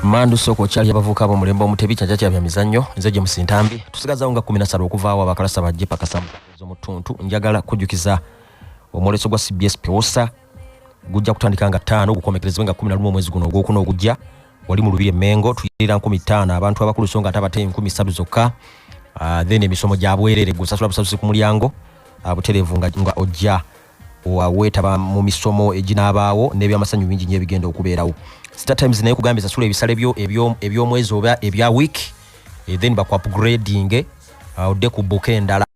mandu sooka okyali abavubuka bomulembe omutebi kyaja kyabya mizannyo nze gye musintambi tusigazawo nga kumi nasatu okuvaawo abakalasa bajje pakasamu z'omutuntu njagala kujjukiza omwoleso gwa cbs pewosa gujja kutandika nga ttaano gukomekerezebwe nga kumi na lumu omwezi guno ogwokuna ogujja wali mu lubiri emengo tuyirira nkumi ttaano abantu abakulu so nga ate abate enkumi ssatu zokka ah, then emisomo gya bwerere gusasula busasusi ku mulyango ah, butereevu nga ojja weetaba mu misomo eginaabaawo n'ebyamasanyu bingi nyo ebigenda okubeerawo star times naye kugambye sasula ebisale byo eby'omwezi oba ebya week eh, then bakuapgradinge uh, odde ku buka endala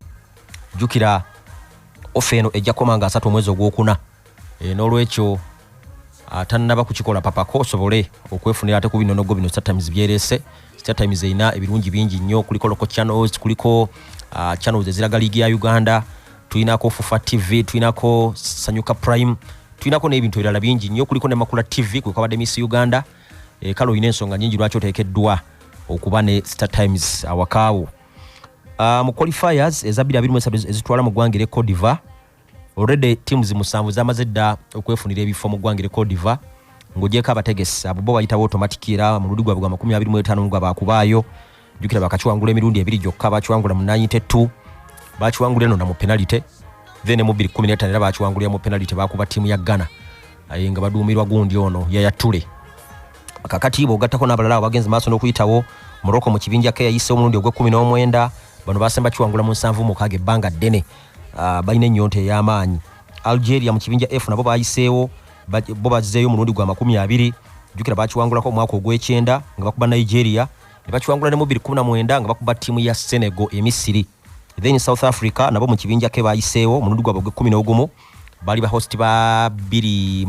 jjukira ofe eno ejja koma nga asatu omwezi ogwokuna eh, n'olwekyo atannaba ah, kukikola papako osobole okwefunira ate ku binonogo bino star times byerese star times erina ebirungi bingi nnyo kuliko local channels kuliko ah, channels eziraga liigi ya uganda tulinako fufa tv tulinako sanyuka prime tulinako n'ebintu ebirala bingi nnyo kuliko ne makula tv kwe kwabadde miss uganda e, kale olina ensonga nyingi lwaki oteekeddwa okuba ne star times awakaawo uh, ah, mu qualifiers eza 23 ezitwala mu ggwanga ere codiva already teams musanvu zamaze dda okwefunira ebifo mu ggwanga ere codiva ng'ogyeko abategesi abo bo bayitawo automatic era mu luli gwabwe gwa 25 nga baakubaayo jukira bakakiwangula emirundi ebiri gyokka bakiwangula mu 92 bakiwangula eno na mu penalite then mu 215 era bakiwangulira mu penalite bakuba tiimu ya ghana aye nga baduumirwa gundi ono yayatule kakatiibwa ogattako n'abalala abo bagenze maaso n'okuyitawo morocco mu kibinja ke yayise omulundi ogw'ekkumi n'omwenda bano basemba kiwangula mu nsanvu mukaaga ebbanga ddene ah, balina ennyonta ey'amaanyi algeria mu kibinja f nabo bayiseewo bo bazzeeyo omulundi gwa makumi abiri jukira bakiwangulako omwaka ogw'ekyenda nga bakuba nigeria ne bakiwangula ne mu 2019 nga bakuba ttiimu ya Senegal e Misiri then South Africa nabo mu kibinja ke bayiseewo omulundi gwabwe gw'ekkumi n'ogumu baali ba host ba bbiri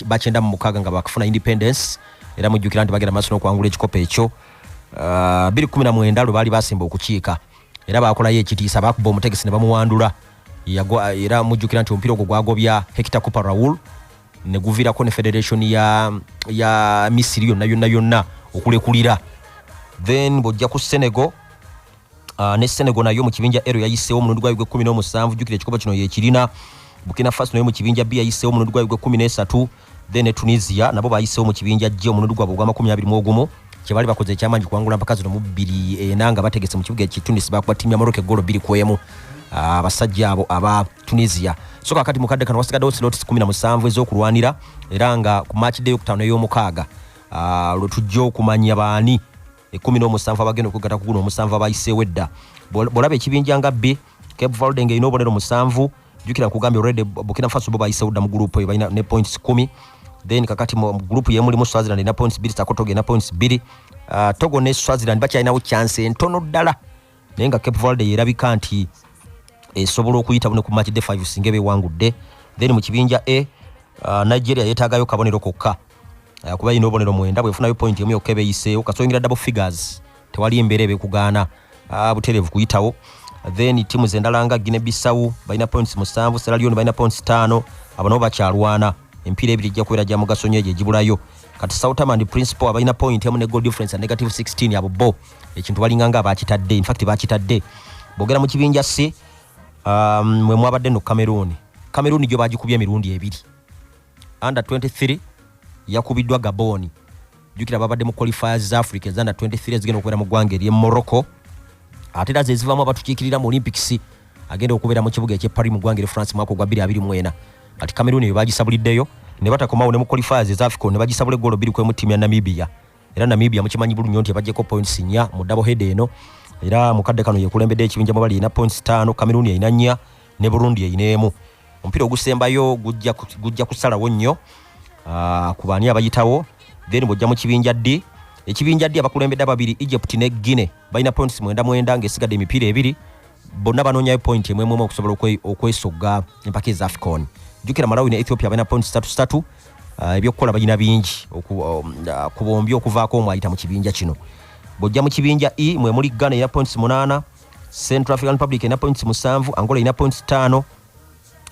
bakyenda mu mukaaga nga bakufuna independence era mujjukira nti bagenda maaso n'okuwangula ekikopo ekyo uh, bbiri kumi na mwenda lwe baali basimba okukiika era baakolayo ekitiisa baakuba omutegesi ne bamuwandula era mujjukira nti omupiira ogwo gwagobya hekita cooper raul ne guvirako ne federation ya, ya misiri yonna yonna yonna okulekulira then bwojja ku senegal uh, ne senegal nayo mu kibinja ero yayiseewo omulundi gwayo gw'ekkumi n'omusanvu jjukira ekikopo kino yekirina bukina faso nayo mu kibinja b yayiseewo omulundi gwayo gw'ekkumi n'esatu then ne tunisia nabo bayiseewo mu kibinja g omulundi gwabwe ogw'amakumi abiri mu ogumu kyebali bakoze ekyamanyi kuwangula mpaka zino mubbiri ena nga bategese mu kibuga ekitunis bakuba tiimu ya moroka egolo bbiri kwemu ah, abasajja abo aba tunisia so kakati mukadde kano wasigaddewo silotis 17 ezokulwanira era nga ku maakidde yokutaano ey'omukaaga ah, lwe tujja okumanya baani ekumi n'omusanvu abagenda okwegatta ku guno omusanvu abayiseewo edda bwolaba ekibinja nga b cape valde nga erina obubonero musanvu jukira kugambye already Burkina Faso bo bayise udda mu group eyo balina ne points 10 then kakati mu group yemu limu Swaziland na points 2 takoto ge na points 2 uh, Togo ne Swaziland bacha inawo chance entono dala nenga Cape Verde yerabika nti esobola okuyita bune ku match day 5 singebe wangu de then mu kibinja A uh, Nigeria yetagayo kabonero kokka uh, kuba ino bonero mwenda bwefuna yo point yemu yokebe yise okasoingira double figures tewali embeera ebekugaana ah, butereevu kuyitawo then tiimu zendala nga gine bisawu balina points musanvu seralioni balina points taano abo nabo bakyalwana empiira ebiri ejja kubeera gya mugaso nyo egyo egibulayo kati soutamand principal abalina point emu ne goal difference a negative 16 abo bo ekintu balinga nga bakitadde infact bakitadde bogera mu kibinja si um, mwe mwabadde no cameroon cameroon gyo bagikubye emirundi ebiri under 23 yakubiddwa gaboni jukira babadde mu qualifiers za africa ezanda 23 ezigenda okubeera mu ggwanga ery'e morocco ate era zezivaamu abatukiikirira mu olympics agenda okubeera mu kibuga eky'e paris mu ggwanga eri france mwaka ogwa 224 kati cameroon eyo bagisabuliddeyo ne batakomawo ne mu qualifiers eza africa ne bagisabula eggolo bbiri kwemu ttiimu ya namibia era namibia mukimanyi bulunyo nti ebagyeko points nnya mu double head eno era mukadde kano yekulembedde ekibinja mwebali erina points taano cameroon erina nnya ne burundi erina emu omupiira ogusembayo gujja kusalawo nnyo ah, ku baani abayitawo then bwojja mu kibinja ddi ekibinja ddi abakulembedde ababiri egypt ne guine balina points mwenda mwenda ngaesigadde emipiira ebiri bonna banoonyayo point emwemwemu okusobola okwesogga empaka eza afcon jukira malawi ne ethiopia balina points satu satu ah, ebyokukola balina bingi um, ah, ku bombi okuvaako omu ayita mu kibinja kino bwojja mu kibinja e mwemuli ghana erina points munaana central african republic erina points musanvu angola erina points ttaano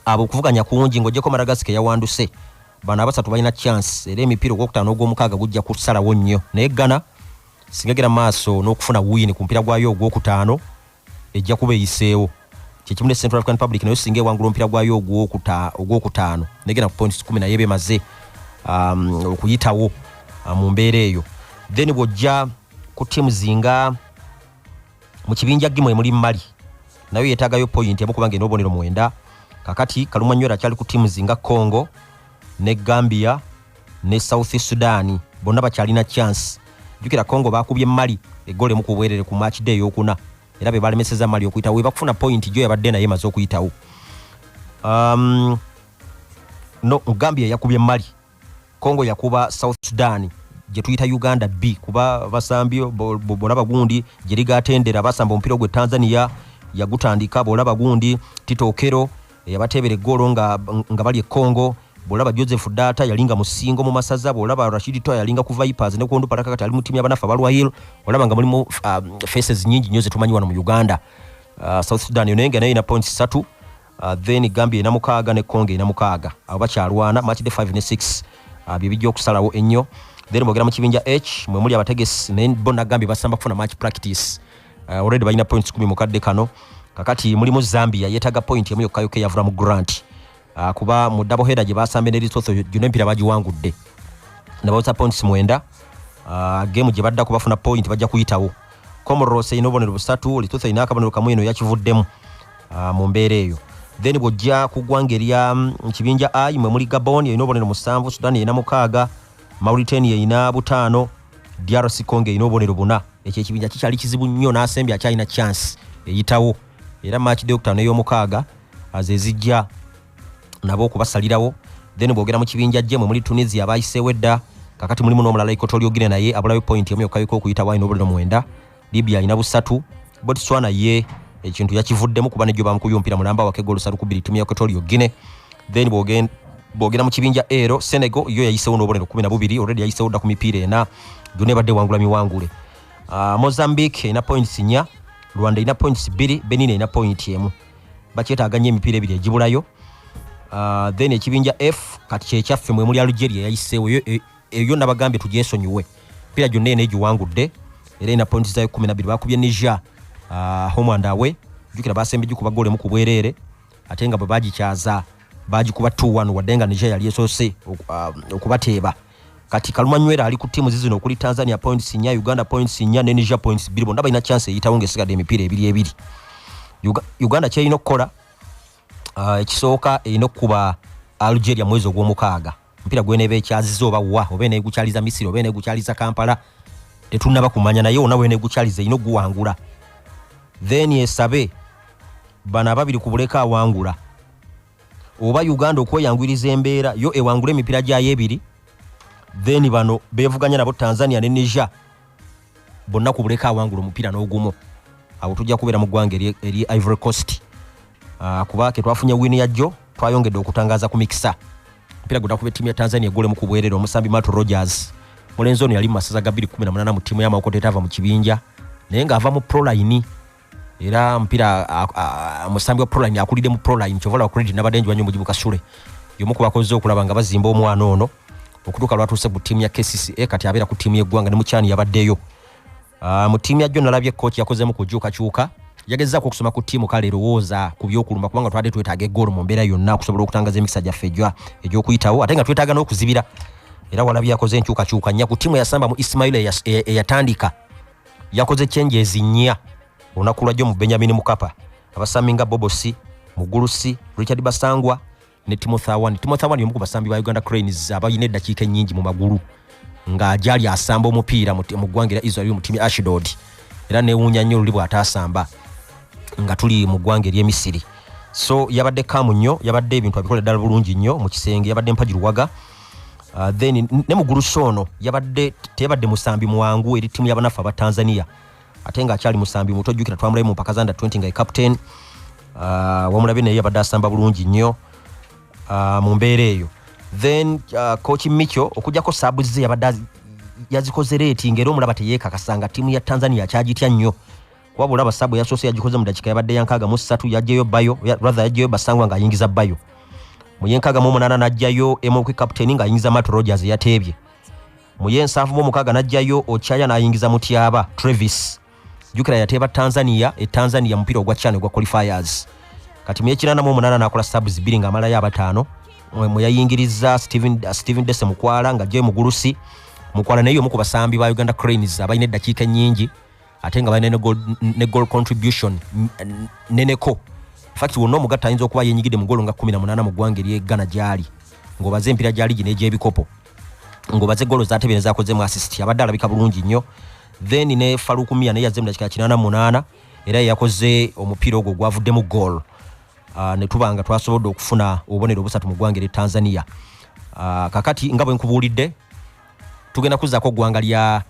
abo okuvuganya kungi ngaogyeko madagasika yawanduse bano abasatu balina chance era emipiira ogwokutaano ogwomukaaga gujja kusalawo nnyo naye ghana singegera maaso n'okufuna wini ku mupiira gwayo ogwokutaano ejja kuba eyiseewo kyekimu ne central african public nayo singa ewangula omupiira gwayo ogwokutaano negenda ku points kumi naye bemaze um, okuyitawo uh, mu mbeera eyo then bwojja ku tiamu zinga mu kibinja gimu emuli mali nayo yetagayo point emu kubanga eno obonero mwenda kakati kalumwa nywera akyali ku timu zinga congo ne gambia ne south sudan bonna bakyalina chance jukira congo bakubye mali egole mu kubwerere ku match day yokuna era be balemeseza mali okuyita we bakufuna point jo yabadde naye maze okuyitawo um, no gambia yakubye mali Congo yakuba South Sudan gyetuyita Uganda B kuba basambi bolaba gundi gyeriga atendera basamba omupiira gwe Tanzania yagutandika bolaba gundi Tito Okero eyabateebera eggoolo nga, nga bali e Congo bolaba Joseph Data yalinga musingo mu masaza bolaba Rashid Toya yalinga ku Vipers ne kuondu paraka kati ali mu timu ya banafa balwa hill olaba nga mulimu uh, faces nyingi nyo zetumanyi wano mu Uganda uh, South Sudan yonenga nayo ina points 3 Uh, then gambia ena mukaaga ne congo ena mukaaga abo bakyalwana match de 5 ne 6 uh, bye bijja okusalawo ennyo then bogera mu kibinja h mwe muli abategesi naye bo nagambye basamba kufuna match practice uh, already balina points kumi mu kadde kano kakati mulimu zambia yetaga point emu yokka yokka eyavula mu grant uh, kuba mu double header gye basambe ne lesotho gyona empira bagiwangudde nabawoza points mwenda uh, game gye baddako bafuna point bajja kuyitawo comoros erina obubonero busatu lesotho erina akabonero kamu eno yakivuddemu ah, mu mbeera eyo then bw'ojja ku ggwanga erya mm, kibinja i mwe muli gabon erina obubonero musanvu sudan erina mukaaga mauritania erina butaano drc congo erina obubonero buna ekyo ekibinja kikyali kizibu nnyo n'asembi akyalina chance eyitawo era maaki dokita n'ey'omukaaga azezijja nabo okubasalirawo then bwogera mu kibinja gye mwe muli tunisia abayiseewo edda kakati mulimu n'omulala ikotolyo gine naye abulayo point emu yokka yoka okuyitawo alina obuliro mwenda libya alina busatu botswana ye ekintu yakivuddemu kuba nejo bamukuyumpira mulamba wakega olusatu kubiri timu ya equatorio guine then bwogenda bwogera mu kibinja ero senegal yo yayisewo n'obubonero kumi na bubiri olredi yayisewo dda ku mipiira ena gyona ebadde ewangula miwangule uh, mozambique erina points nya rwanda erina points bbiri benin erina point emu bakyetaaga nnyo emipiira ebiri egibulayo uh, then ekibinja f kati kyekyaffe mwemuli alugeria yayisewo eyo yona bagambye tujesonyiwe pira gyonna ena egiwangudde era ena pointi zayo kumi nabiri bakubye niger uh, home and away jukira basembe gikuba gole mu kubwerere ate nga bwe bagikyaza bagikuba 21 wadde nga niger yali esose ah, okubateeba uh, kati kalumanywera ali ku tiimu zizino okuli tanzania points nya uganda points nya ne niger points biri bonna balina chance eyitawo ngaesigadde emipiira ebiri ebiri uganda kyerina okukola uh, ekisooka erina okukuba algeria mwezi ogwomukaaga omupiira gweneeba ekyaziza oba wa oba eneegukyaliza misiri oba eneegukyaliza kampala tetunnaba kumanya naye ona weneegukyaliza erina okuguwangula then esabe bano ababiri ku buleka awangula oba uganda okweyangwiriza embeera yo ewangula emipiira gyayo ebiri then bano bevuganya nabo tanzania ne niger bonna ku buleka awangula omupiira n'ogumu awo tujja kubeera mu ggwanga eri ivory coast ah, kuba ke twafunye wiini yajjo twayongedde okutangaza ku mikisa omupiira gwe nakuba ettiimu ya tanzania egolemu ku bwerere omusambi mato rogers mulenzi ono yali mu masaza ga 218 mu ttiimu y'amawokota etaava mu kibinja naye ng'ava mu proline era mpira musambi wa proline akulidde mu proline kyovala credit nabadde njiwa nyo mujibu kasule yomu kubakozze okulaba nga bazimba omwana ono okutuuka lwatuuse ku tiimu ya kcca kati abeera ku tiimu yeggwanga ne mukyani yabaddeyo ah, mu tiimu yajjo nalabye kooki yakozemu kujuukakyuka yagezaako okusoma ku tiimu kale erowooza ku byokulumba kubanga twabadde twetaaga egoolo mu mbeera yonna okusobola okutangaza emikisa gyaffe egy'okuyitawo ate nga twetaaga n'okuzibira era walabye yakoze enkyukakyuka nnya ku tiimu eyasamba mu isimaila eyatandika yakoze change ezinya olunaku lwajjo mu benjamin mukapa abasambi nga bobosi mugulusi richard basangwa ne timothy awani timothy awani yomu ku basambi ba uganda cranes abalina eddakiika ennyingi mu magulu nga gyali asamba omupiira mu ggwanga era israel mu tiimi ashidod era newuunya nnyo oluli bw'ataasamba nga tuli mu ggwanga ery'emisiri so yabadde kaamu nnyo yabadde ebintu abikola ddala bulungi nnyo mu kisenge yabadde mpaji luwaga Uh, then ne mugulu shono yabadde tebadde musambi mwangu eri timu yabanafu aba tanzania ate nga akyali musambi muto jukira twamulabe mu mpaka zanda 20 nga captain uh, ah, wamulabe naye yabadde asamba bulungi nnyo uh, mu mbeera eyo then uh, coach micho okujjako sabu ze yabadde yazikoze leeti ngaera omulaba teyekakasa nga timu ya tanzania akyagitya nnyo wabula abasabu yasoose yagikoze mu dakika yabadde yankaaga mu ssatu yajjayo bayo rather yajjayo basangwa ng'ayingiza bayo mu yenkaaga mu omunaana n'ajjayo emokwi kapiteeni ng'ayingiza mat rogers eyateebye mu yensanvu mu omukaaga n'ajjayo okyaya n'ayingiza mutyaba travis jukira yateeba tanzania e tanzania mupiira ogwa chana ogwa qualifiers kati mu yekinaana mu omunaana n'akola sabs bbiri ng'amalayo abataano mwe yayingiriza stephen, uh, stephen dese mukwala ng'ajjayo mugulusi mukwala naye omu ku basambi ba uganda cranes abalina eddakiika ennyingi ate nga balina ne goal contribution neneko fakti wonna omugatta ayinza okuba yenyigidde mu golo nga 18 mu ggwanga eri eggana gyali ng'obaze empira gya ligi n'egyebikopo ng'obaze golo zatebeera zakoze mu assist abadde alabika bulungi nnyo then ne falukumia naye yazze mu dakika kinaana munaana era yeyakoze omupiira ogwo gwavuddemu goal ah, ne tuba nga twasobodde okufuna obubonero obusatu mu ggwanga eri tanzania ah, kakati nga bwe nkubuulidde tugenda kuzaako ggwanga lya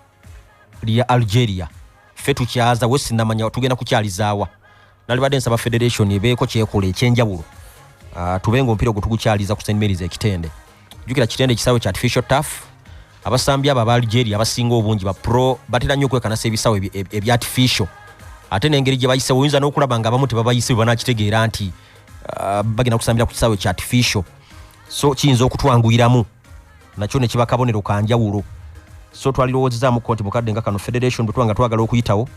lya algeria ffe tukyaza we sinamanya tugenda kukyalizaawa nalibadde nsaba federation ebeeko kyekola ekyenjawulo ah, tube nga omupiira ogwo tugukyaliza ku st marys ekitende jukira kitende ekisaawe kya artificial taf abasambi abo aba algeria abasinga obungi bapro batera nnyo okwekanasa ebisaawe ebya artificial ate nengeri gye bayisewo oyinza n'okulaba nga abamu tebabayise bwe banakitegeera nti ah, bagenda kusambira ku kisaawe kya artificial so kiyinza okutwanguyiramu nakyo ne kiba kabonero ka njawulo so twalirowoozezamuko nti mukadde nga kano federation bwe tuba nga twagala okuyitawo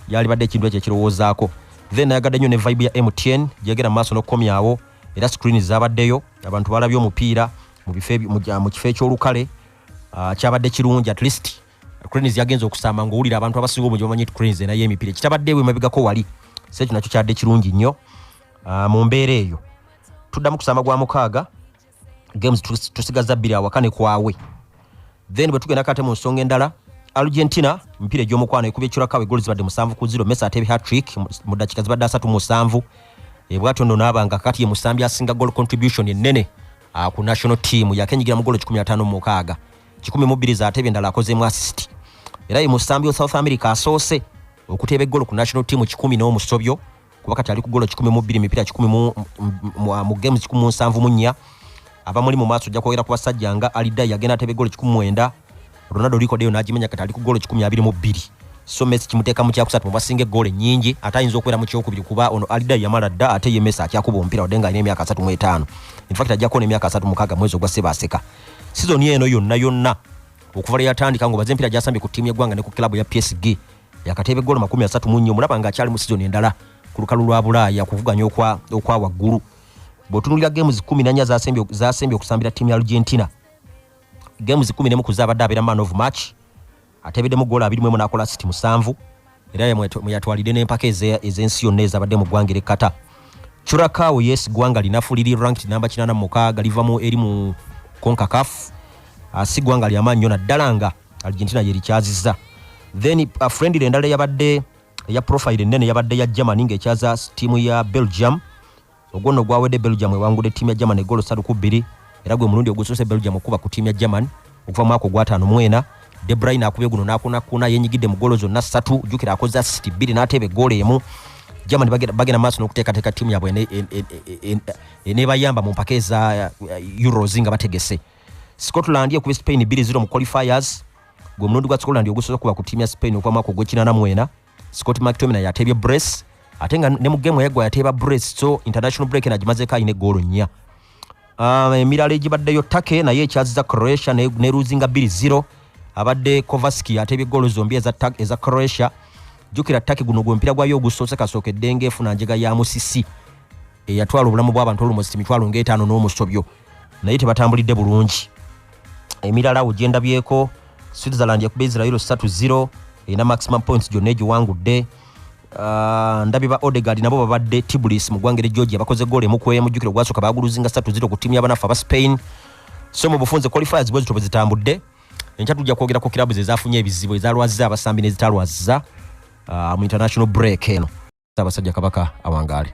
yalibadde ekintu ekyo ekirowoozaako then nayagadde nnyo ne vibe ya mtn gyegera mu maaso n'okukomyawo era screen zabaddeyo abantu balabye omupiira mu kifo ekyolukale ah, kyabadde kirungi at least cranes yagenza okusaama ngaowulira abantu abasinga obungi bamanyi ti cranes enayo emipiira kitabadde ewe mabigako wali se ekyo nakyo kyadde kirungi nnyo ah, mu mbeera eyo tuddamu kusaama gwa mukaaga games tusigaza bbiri awaka ne kwawe then bwe tugenda kate mu nsonga endala argentina emipiira egy'omukwano ekubye curakawe goli zibadde musanvu ku ziro mesa ateebe hatrick mu dakika zibadde asatu musanvu ebwatyo nno naaba nga kati ye musambi asinga gol contribution ennene ah, ku national team yakenyigira mu golo 15 mukaaga 1 mu bbiri zateebe endala akozeemu assist era ye musambi wa south america asoose okuteeba eggolo ku national team 1 n'omusobyo kuba kati ali ku golo kikumi mu bbiri mipiira kikumi mu games kikumi mu nsanvu mu nnya abamuli mu maaso ojja kwogera ku basajja nga alidai yagenda atebe golo kikumi mwenda ronaldo rikodeyo n'agimenya kati ali ku golo kikumi abiri mu bbiri so messi kimuteeka mu kyakusatu mubasinga egoolo ennyingi ate ayinza okubeera mu kyokubiri kuba ono alida yamala dda ate ye messi akyakuba omupiira wadde nga alina emyaka asatu mu etaano infact ajja kuona emyaka asatu mukaaga mwezi ogwa sebaaseka sizoni eno yonna yonna okuva lwe yatandika ngaobaze empiira gyasambye ku ttiimu y'eggwanga ne ku kilabu ya psg yakateeba eggolo makumi asatu mu nnya omulaba ng'akyali mu sizoni endala ku lukalu lwa bulaaya okuvuganya okwa waggulu bw'otunulira geemu zikumi nannya zasembye okusambira ttiimu ya argentina geemu zikumi nemu kuza abadde abeera man of match ateebeddemu goola abiri mwemu n'akola siti musanvu era yatwalidde n'empaka ez'ensi yonna ezabadde mu ggwanga erekkata curakawo yes ggwanga linafu liri ranked namba kinana mu mukaaga livamu eri mu konkakafu ah, si ggwanga lyamaanyi nyo naddala nga argentina yerikyaziza then uh, friendly endala yabadde eya profile ennene yabadde ya germany ngaekyaza tiimu ya belgium ogwo nno gwawedde belgium ewangudde tiimu ya germany egolo satu ku bbiri era gwe mulundi ogusoose belgium okukuba ku tiimu ya germany okuva mwaka ogwataano mwena debrine akubye guno nakunakuna yenyigidde mu golo zonna ssatu jukira akoze asiti bbiri n'ateeba egoola emu germany bagenda maaso n'okuteekateeka tiimu yabwe enebayamba mu mpaka eza uh, euros nga bategese Scotland ekubye Spain 2-0 mu qualifiers gwe mulundi gwa Scotland ogusoza kuba ku tiimu ya Spain okuva mwaka ogw'ekinana mwena Scott McTominay yateebye brace ate nga ne mu game yagwa yateeba brace so international break nagimazeeko alina eggoolo nnya um, emirala egibaddeyo Turkey naye ekyaziza Croatia ne, ne luzinga 2-0 abadde Kovacic yateebye eggoolo zombi eza, eza Croatia jukira Turkey guno gwe mpira gwayo ogusoose kasookedde ng'efuna njega ya musisi eyatwala obulamu bw'abantu olumosi mitwalo ng'etaano n'omusobyo naye tebatambulidde bulungi emirala wo gyendabyeko switzerland yakuba israel 30 erina maximum points gyonna egiwangudde uh, ndabye ba odegard nabo babadde tiblis mu ggwanga eri georgia bakoze goolo emukwemu jjukira ogwasooka baguluzinga 30 ku ttiimu yabanaffe aba spain so mu bufunze qualifiers bwezito bwe zitambudde enkya tujja kwogera ku kirabu ze zafunye ebizibu ezalwaziza abasambi nezitalwaziza uh, mu international break eno abasajja kabaka awangaale